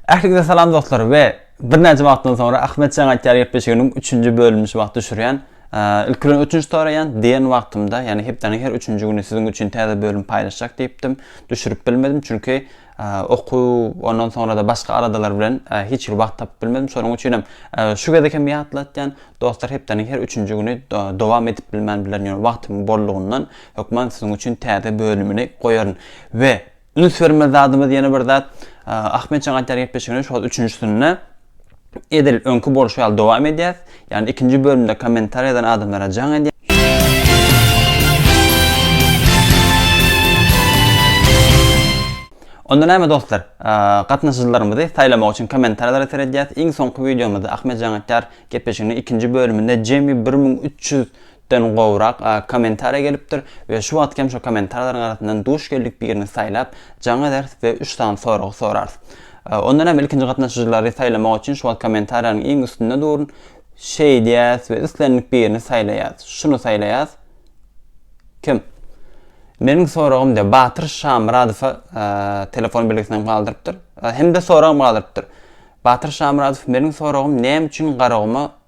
Ähliňize salam dostlar we birnäçe wagtdan soňra Ahmet Jan aýtýar gepleşiginiň 3-nji bölümini şu wagt düşürýän. Ilk bilen ötünç soraýan, diýen wagtymda, ýagny hepdäniň her 3-nji güni siziň üçin täze bölüm paýlaşjak diýipdim. Düşürip bilmedim, çünki Okuw, ondan soňra-da başga aladalar bilen hiç hili wagt tapyp bilmedim. Şonuň üçinem şu gezek hem ýatlatýan, dostlar hepdäniň her üçünji güni dowam edip bilmän bilerin, ýöne wagtymyň bollugyndan hökman siziň üçin täze bölümini goýaryn. We üns bermeli zadymyz ýene bir zat, Ahmetjan aýdýar gepleşigini şol üçünjisinde, Edil öňki bolşy ýaly dowam edýäs. Ýagny ikinji bölümde kommentar ýazan adamlara jaň edýän. Onda näme dostlar? Gatnaşyjylarymyzy saýlamak üçin kommentarlara seredýäs. Iň soňky wideomyzda Ahmet jaň etýär gepleşiginiň ikinji bölüminde jemi bir müň üç ýüz den gowrak kommentariýa gelipdir we şu wagtky hem şo kommentariýalaryň arasyndan duş geldik birini saýlap jaň ederis we üç sany soragy sorarys. Ondan hem ilkinji gatnaşyjylary saýlamak üçin şu wagt kommentariýalaryň iň üstünde durun şeýdýäs we islendik birini saýlaýas. Şuny saýlaýas. Kim? Meniň soragym de Batyr Şamyradowa telefon belgisini hem galdyrypdyr. Hem de soragym galdyrypdyr. Batyr Şamyradow meniň soragym näme üçin Garaguma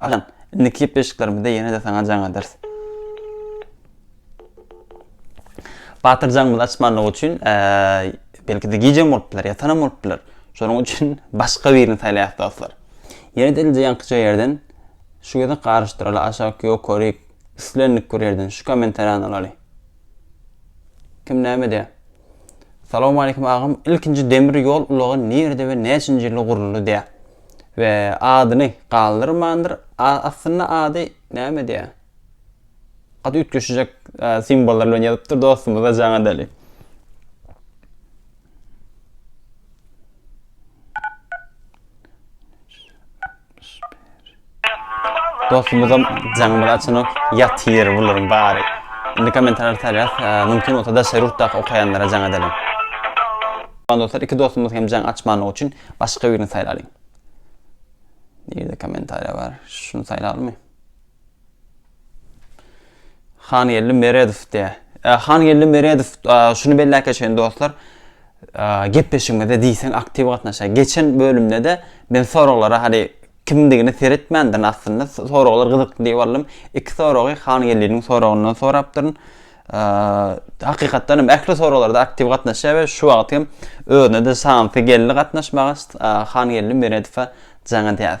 Ajan, indi klip beşiklerimizde ýene-de saňa jaň ederis. Batyr jaňymyzy açmanlygy üçin, belki-de gijäm bolup biler, ýatanam bolup biler. Şonuň üçin başga birini saýlaýarys dostlar. Ýene-de ilje ýaňkyja ýerden şu gezek garyşdyraly aşak, ýokaryk, islendik bir ýerden şu kommentariýany alaly. Kim näme edýär? Salawmaleýkim agam ilkinji demir ýol ulagy nirde we näçinji ýylda guruldy diýä we adyny galdyrmandyr aslynda ady näme diýä gaty üýtgeşijek simbollar bilen ýazypdyr dostumyza jaňa däli. Dostumuzam jaňymyzy açanok, ýatyr bularyň bary. Indi kommentarýa tarýas, mümkin bolsa daşary ýurtdaky okaýanlara jaň edeliň. Salam dostlar, iki dostumyz hem jaň açmanlygy üçin başga birini saýlalyň. Nirede kommentarýa bar? Şuny saýlalymy? Hangeldi Meredow diye. E, Hangeldi Meredow e, şunu belläp geçen dostlar. E, gepleşigimize diýseň aktiw gatnaşýar. Geçen bölümde de men soraglara hali kimdigini seretmändir aslynda. Soraglar gyzykly diýip aldym. Iki soragy Hangeldiniň soragyndan sorapdyryn. E, hakykatdan hem ähli soraglarda aktiw gatnaşýar we şu wagt hem özüne de şansy geldi gatnaşmaga. E, Hangeldi Meredowa jaňa däz.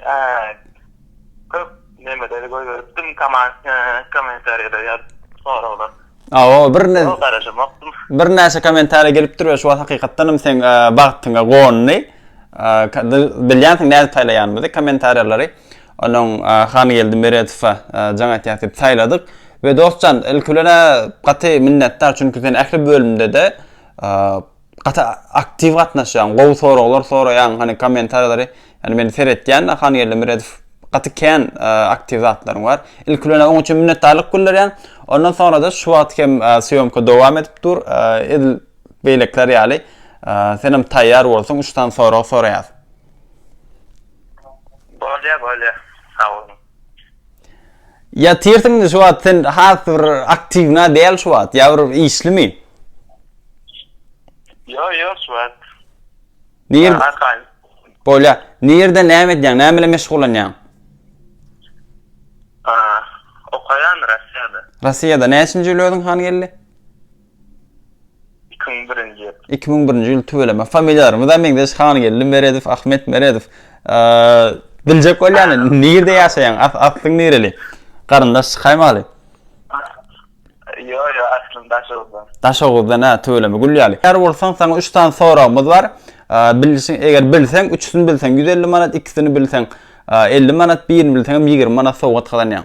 Eee, köp nemeleri goýberipdim, koment, eee, kommentariýalar ýa soraglar. Hawa, bir ne. Ýok, garaşamokdym. Birnäçe kommentariýa gelipdir we şu wagt hakykatdanam seň bagtyňa gondy. Eee, bilýänsiň nädip saýlaýanymyzy, kommentariýalary. Onuň Hangeldi Meredowa jaň etýäs diýip saýladyk. We dost jan, ilki bilen-ä gaty minnetdar, çünki sen ähli bölümde-de, eee, Gaty aktiw gatnaşýaň, gowy soraglar soraýaň, hany kommentariýalary, ýani men seretýän-de Hangeldi Meredow gaty kän aktiw zatlaryň bar. Ilki bilen oň üçin minnetdarlyk bildirýän, ondan soňra-da şu wagt hem sýomka dowam edip dur, edil beýlekiler ýaly senem taýýar bolsaň üç sany sorag soraýas. Bolýa bolýa, sag boluň. Ýatyrsyň indi şu wagt sen has bir aktiwna däl şu wagt ýa bir işlimi? Ýok ýok şu wagt. Nir Bolýa. Nirde näme edýäň? Näme bilen meşgullanýaň? Okaýan Russiýada. Russiýada näçinji ýyl özüň han geldi? Iki müň birinji ýyl. Iki müň birinji ýyl tüweleme. Familiýalarymyzam meňzeş Hangeldi Meredow, Ahmet Meredow. Biljek bolýan nirde ýaşaýaň? Aslyň nireli? Garyndaş çykaýmaly. Ýok ýok aslym Daşoguzdan. Daşoguzdan hä tüweleme gül ýaly. Ýar bolsaň saňa üç sany soragymyz bar. Bilişiň eger bilseň üçüsini bilseň ýüz elli manat ikisini bilseň elli manat birini bilseňem ýigrimi manat sowgat gazanýaň.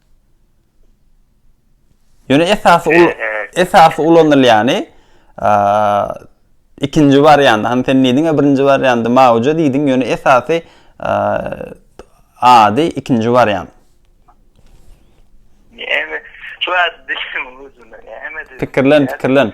Ýöne esasy ul esasy ulanylýany ikinji wariant. Hani sen diýdiň ya birinji warianty mawja diýdiň, ýöne esasy ady ikinji wariant. Pikirlen, pikirlen.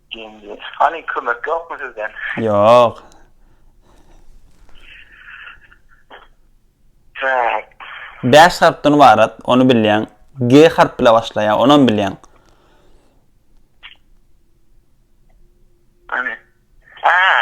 Genji. Hany kömek ýokmy sizden? Ýok. Trak. Bäş harpdan ybarat, ony bilýäň. G harp bilen başlaýar, onam bilýäň. Hany. Haa.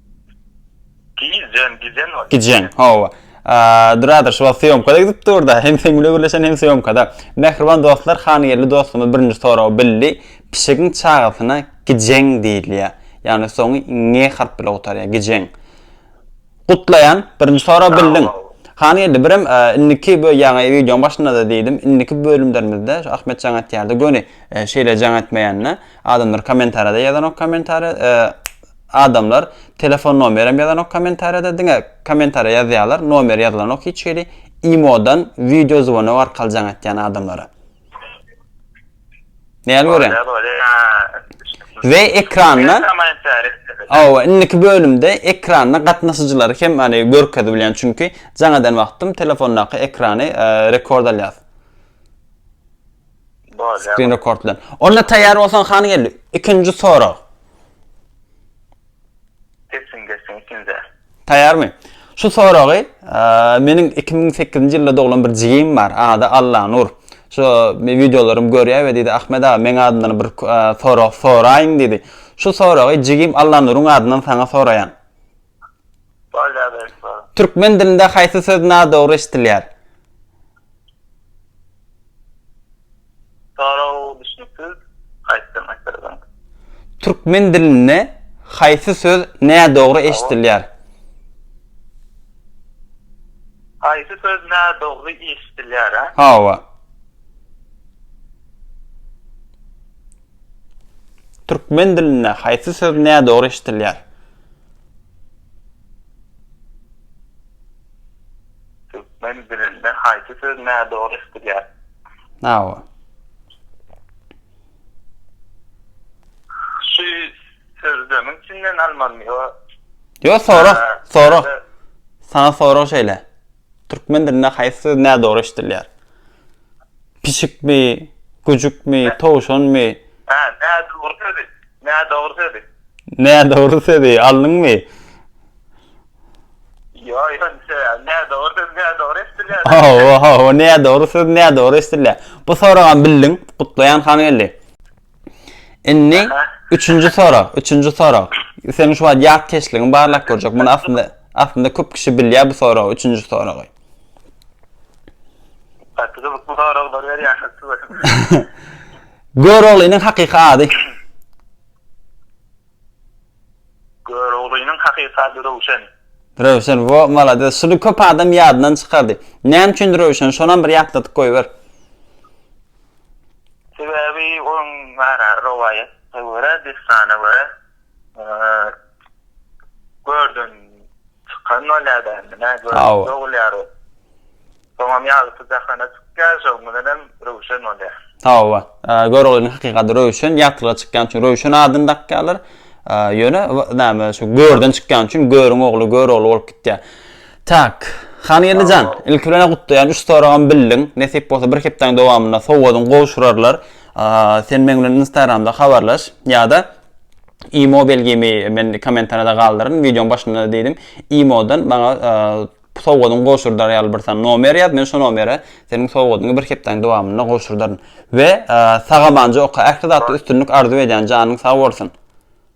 Gijen, gijen ol. Gijen, hawa. Duradyr, şu wagt syýomkada gidip dur-da, hem seň bilen gürleşen, hem syýomkada. Mähriban dostlar, hanýerli dostumyz birinji soragy bildi. Pişigiň çagasyna gijen diýilýär. Ýagny soňy nge harp bilen gutarýar. Gijen. Gutlaýan, birinji soragy bildiň. Hanýerli, birem indiki bu ýaňy wideoň başynda-da diýdim, indiki bölümlerimizde şu Ahmet jaň etýärdi, göni şeýle jaň etmeýänine, adamlar kommentariýada ýazanok kommentariýa, adamlar telefon nomerem ýazanok kommentariýada diňe kommentariýa ýazýalar nomeri ýazylanok hiç hili imodan wideo zwonog arkaly jaň etýän adamlara näl görýäň we ekranda hawa indiki bölümde ekranda gatnaşyjylary hem hany görkezip bilýän çünki jaň eden wagtym telefondaky ekrany rekord alýas. Screen record bilen. Onda taýýar bolsaň hany geldi. Ikinji sorag. Geçsin, geçsin ikinji. Taýýarmy? Şu soragy meniň 2008-nji ýylda doglan bir jigim bar, ady Allanur. Şu men wideolarymy görýär we diýdi, Ahmet aga, meň adyndan bir sorag soraýyň diýdi. Şu soragy jigim Allanuryň adyndan saňa soraýan. Türkmen dilinde haýsy söz nadogry eşdilýär? Türkmen dilinde haýsy söz nädogry eşdilýär? Haýsy söz nädogry eşdilýär? Hawa. Türkmen dilinde haýsy söz nädogry eşidilýär? Türkmen dilinde haýsy söz nädogry eşidilýär? Hawa. Şu sözlemiň içinden almalymy ýa? Ýok, sora, sora. Saňa sorag şeýle. Türkmen dilinde haýsy söz nädogry eşidilýär? Pişikmi, güjükmi, towşanmy? Hä, nädogry sözi? Nädogry sözi? Nädogry sözi, alnyňmy? Ýo, ýonça, nädogry söz nädogry eşdilýär. Hawa, hawa, nädogry söz nädogry eşdilýär. Bu soragam bildiň. Gutlaýan Hangeldi. Indi üçünji sorag, üçünji sorag. Sen şu wagt ýat keşligiňi barlap görjek. Muny aslynda aslynda köp kişi bilýär bu soragy, üçünji soragy. Gatyda bu soraglar berýär. Göroglynyň hakyky ady. Göroglynyň hakyky ady Röwşen. Röwşen, wo, malades. Şuny köp adam ýadyndan çykardy. Näme üçin Röwşen? Şonam bir ýatladyp goýber. Sebäbi onuň gara rowaýata görä, dessana görä, görden çykan bolýar dämi, nä, görden dogulýar ol. Soňam ýagty jahana çykýar, şonuň bilen hem Röwşen bolýar. Hawa, Göroglynyň hakyky ady Röwşen, ýagtylyga çykýan üçin Röwşen adyny dakýarlar. Ýöne, näme, şu görden çykýan üçin Görüň ogly Görogly bolup gitýär. Tak. Hangeldi jan, ilki bilen-ä gutlaýan, üç soragam bildiň. Nesip bolsa bir hepdäň dowamynda sowgadyň gowşurarlar. Sen meň bilen instagramda habarlaş, ýa-da imo belgimi men kommentariýada galdyryn, wideoň başynda-da diýdim, imo-dan maňa sowgadyň gowşurdar ýaly bir sany nomer ýaz, men şo nomere seniň sowgadyňy bir hepdäň dowamynda gowşurdaryn. We sag-amanja oka, ähli zatda üstünlik arzuw edýän, janyň sag bolsun.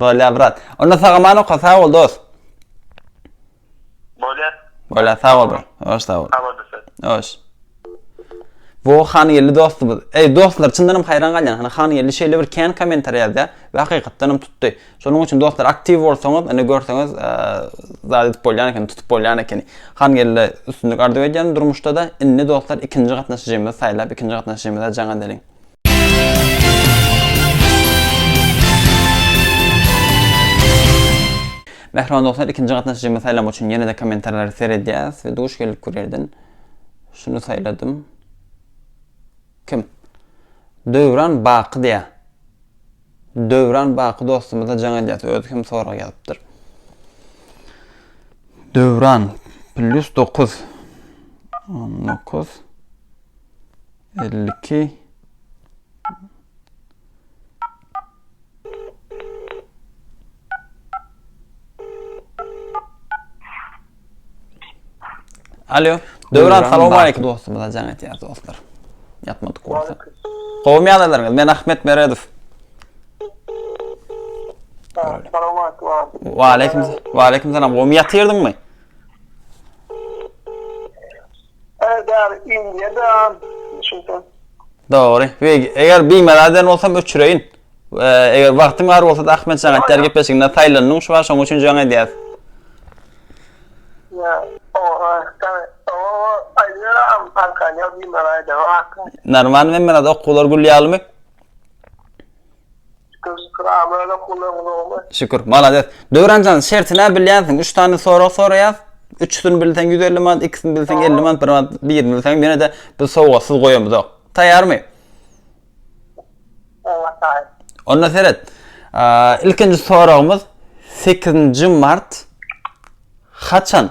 Bolýar brat. Onda sagaman oka sag bol dos. Bolýar. Bolýar sag bol brat. Hoş sag bol. Sag bol dostum. Hoş. Bu han geldi dostumuz. Ey dostlar çyndanam hayran galyan. Hani han geldi şeyle bir kän komentariy yazdı. Ve hakikatdanam tuttu. Şonun için dostlar aktiv olsanız, hani görseniz e, zade edip bolyan eken, tutup bolyan eken. Han geldi üstünlük arzu edyan durmuşta da. Inni dostlar ikinci katnaşıcımız saylap, ikinci katnaşıcımız da cana delin. Mähriban dostlar, ikinji gatnaşyjymy saýlamak üçin ýene-de kommentarlary seredýäs we duş gelip bu ýerden şuny saýladym. Kim? Döwran Baky diýä. Döwran Baky dostumyza jaň edýäs, özi hem sorag ýazypdyr. Döwran plus 9 19 elli iki Alo. Döwran salam aýk dostumyza jaň etýär dostlar. Ýatmadyk bolsa. Gowmy ýagdaýlaryňyz? Men Ahmet Meredow. Salam aýk. Wa aýkim. Wa aýkim salam. Gowmy ýatyrdyňmy? Äder indiýe däl şeýdip. Dogry. Wig, eger bimelal eden bolsam öçüreýin. Eger wagtyň bar bolsada Ahmetjan aýtýar gepleşiginde saýlandyň şu şoň üçin jaň edýäs. Ýa, oha, sen oha aýdýaram arkan ýa bimelal eden wagtyň. Normal bimelal okuwlar gül ýalymy? Şükür şükür amana gullugyň zowmy. Şükür malades. Döwranjan şertine bilýänsiň üç sany sorag soraýas. Üçüsini bilseň ýüz elli manat ikisini bilseň elli manat bir manat birini bilseňem ýenede biz sowgatsyz goýamyzok. Taýýarmy? Oňa taýyn. Onda seret. Ilkinji soragymyz sekizinji mart haçan?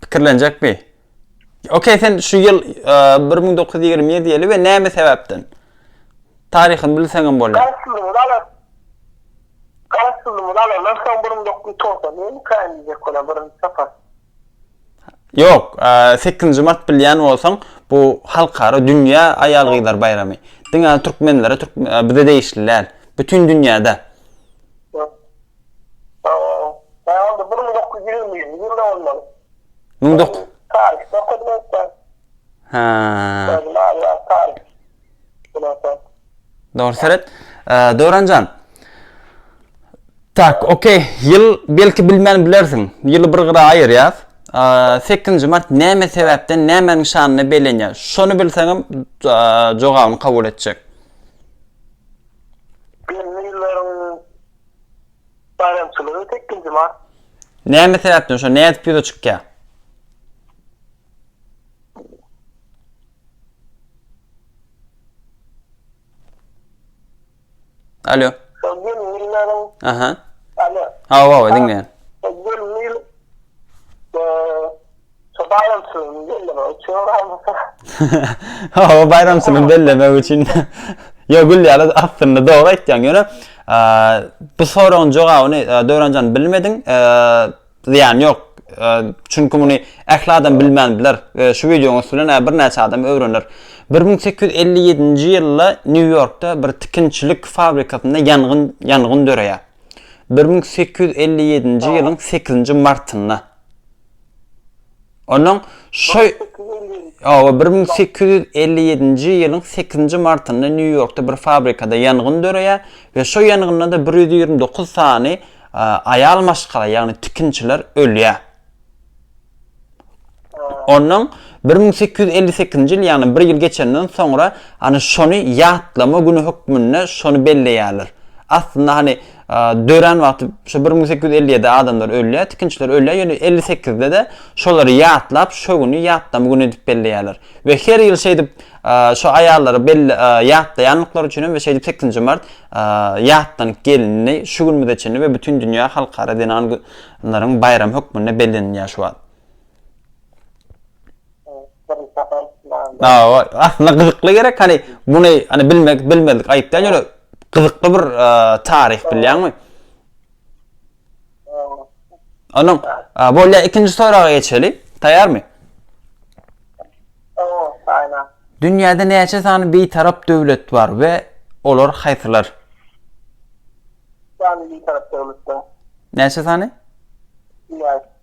Pikirlenjekmi? Okey, sen şu ýyl 1927 ýyly we näme sebäpden? Taryhyny bilseňem bolýar. Garaşsyzlygyny alan. Garaşsyzlygyny alandan soň 1990 ýyly kaýyn diýjek bolan birinji sapar. Ýok, 8-nji mart bilýän bolsaň, bu halkara dünýä aýal-gyzlar baýramy. Diňe türkmenlere, bize degişli däl. Bütin dünýäde. Ä, onda bir müň dokuz ýüz ýigriminji ýylda bolmaly. Müň dok. Taryhda okadym öýtse. Hä. Özüm ýa taryh. Bularsa. Dogry seret. Döwranjan. Tak, okey. Ýyl belki bilmän bilersiň. Ýyly bir gyra aýyrýas. Sekizinji mart näme sebäpden, nämäniň şanyna bellenýär? Şony bilseňem, jogabyny kabul etjek. Belli ýyllaryň Baýramçylygy sekizinji mart. Näme sebäpden şo nädip ýüze çykýar? Alo. Aha. Alo. Hawa, hawa, diňleýän. Şu baýramçylygyny bellemek üçin galmyka? Hawa, baýramçylygy bellemek üçin. Ýok, gülýärler. Aslynda dogry aýtýaň. Ýöne bu soragyň jogabyny Döwranjan bilmediň. Zyýany ýok. Çünki muny ähli adam bilmän biler. Şu wideoň üsti bilen ä birnäçe adam öwrener. Bir müň sekiz ýüz elli ýedinji ýylda Nýu-Ýorkda bir tikinçilik fabrikasynda ýangyn ýangyn döreýär. Bir müň sekiz ýüz elli ýedinji ýylyň sekizinji martynda. Ondan şu Owa, bir müň sekiz ýüz elli ýedinji ýylyň sekizinji martynda Nýu-Ýorkda bir fabrikada ýangyn döreýär we şo ýangynda-da bir ýüz ýigrimi dokuz sany aýal maşgala, ýagny tikinçiler ölýär. Ondan bir müň sekiz ýüz elli sekizinji ýyl, ýagny bir ýyl geçenden soňra, hany şony ýatlama güni hökmünde şony belleýärler. Aslynda, hany, dörän wagty şu bir müň sekiz ýüz elli ýedi adamlar ölýär, tikinçiler ölýär, ýöne elli sekizde-de şolary ýatlap, şo güni ýatlama güni edip belleýärler. We her ýyl şeýdip şo aýallary belle ýatlaýanlyklary üçin hem we şeýdip sekizinji mart ýatlanyp gelindi şu günümize çenli we bütin dünýä halkara zenan laryň baýramy hökmünde bellenilýär şu wagt. Awa, aslynda gyzykly gerek hany muny hany bilmek bilmezlik aýyp däl ýöne gyzykly bir taryh bilýäňmi? Onuň bolýa ikinji soraga geçeli. Taýýarmy? Dünýäde näçe sany bitarap döwlet bar we olar haýsylar? Näçe sany?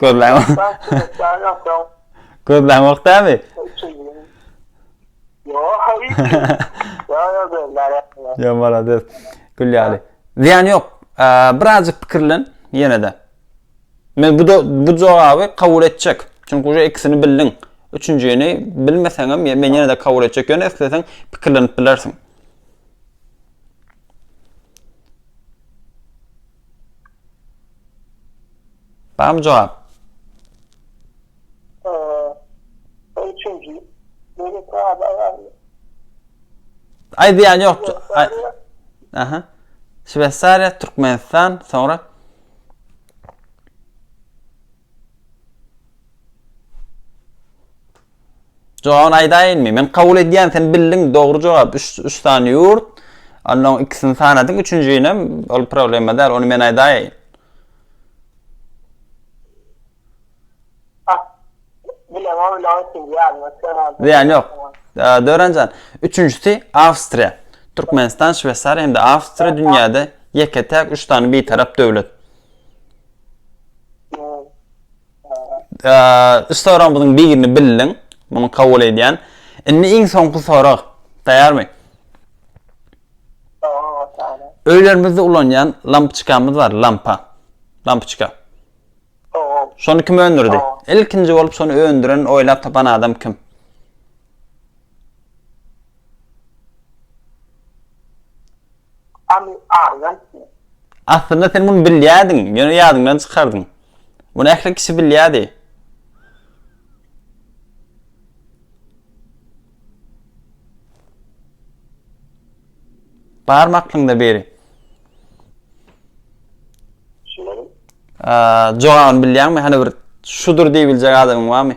Gözläň. Gözläň ýok dämi? Ýa malades. Gül ýaly. Ziýan ýok. Birazjyk pikirlen ýene-de. Men bu bu jogaby kabul etjek. Çünki uje ikisini bildiň. Üçünjini bilmeseň hem men ýene-de kabul etjek. Ýöne isleseň pikirlenip bilersiň. Barmy jogap? Aýdýan ýok. Aha. Şweýsariýa, Türkmenistan, soňra Jogabyny aýdaýynmy? Men kabul edýän, sen bildiň, dogry jogap, üç, üç sany ýurt, onnoň ikisini sanadyň, üçünjinem, ol problema däl, ony men aýdaýyn. Hah, bilemok, ýöne oň üçünji ýadyma düşenok. Zyýany ýok. Döwranjan, üçünjisi, Awstriýa. Türkmenistan, Şweýsariýa hem-de Awstriýa dünýäde ýeke-täk üç sany bitarap döwlet. Üç soragymyzyň birini bildiň. Muny kabul edýän. Indi iň soňky sorag. Taýarmy? Öýlerimizde ulanýan lampçkamyz bar, lampa. Lampçka. Şony kim öndürdi? Ilkinji bolup şony öndüren, oýlap tapan adam kim? Amy argant sen. Aslynda sen muny bilýärdiň, ýöne ýadyňdan çykardyň. Muny ähli kişi bilýärdi. Barmy aklyňda biri? Şular. Jogabyny bilýärmi? Hany bir şudur diýibiljek adamyň barmy?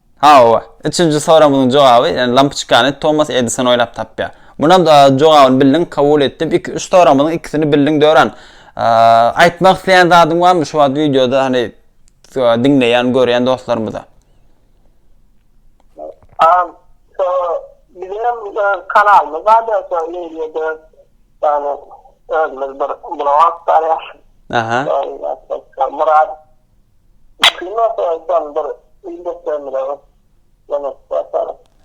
Hawa, üçünji soragyňyň jogaby, ýagny lampoçkany Tomas Edison oýlap tapýar. Munam jogabyny bildiň, kabul etdim. Iki, üç soragymyzyň ikisini bildiň Döran. Aýtmak isleýän zadyň barmy şu wagt wideoda hany diňleýän, görýän dostlarymyza? Am, şo bizem öz kanalymyz bardy, şo ýerde ýagny özümiz bir blog açýarys. Aha. Murad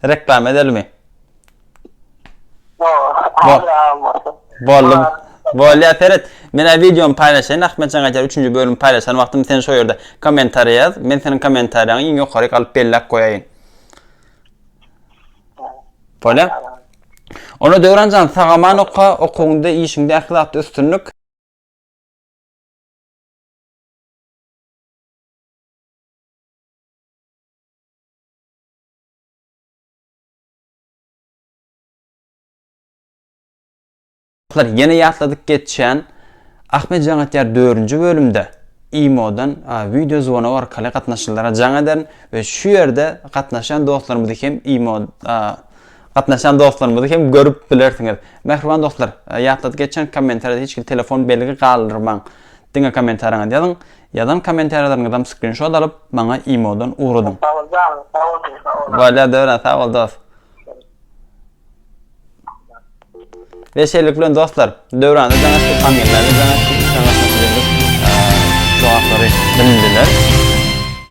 Reklama edelimi? Boldy. Bolýar seret. Men a wideomy paýlaşaýyn, Ahmetjan aýdýar, üçünji bölümi paýlaşan wagtym sen şo ýerde kommentariýa ýaz, men seniň kommentariýaňy iň ýokaryk alyp belläp goýaýyn. Bolýar. Onda Döwranjan sag-aman oka, okuwyňda, işiňde ähli zatda üstünlik. Dostlar ýene ýatladyk geçýän Ahmet jaň etýär dördünji bölümde imodan wideo zwonog arkaly gatnaşyjylara jaň ederin we şu ýerde gatnaşýan dostlarymyzy hem imo gatnaşýan dostlarymyzy hem görüp bilersiňiz. Mähriban dostlar ýatladyk geçýän kommentariýada hiç kim telefon belgi galdyrmaň. Diňe kommentariýaňyzy ýazyň. Ýazan kommentariýalaryňyzam skrinşot alyp maňa imodan ugradyň. Sagol janyň sag bolsun sag ol. Bolýar Döwran sag bol dos. Ve şeýlelik bilen dostlar Döwranda jaň etdik Hamgelmäde jaň etdik Üçem gatnaşyjymyz jogaplary bildiler.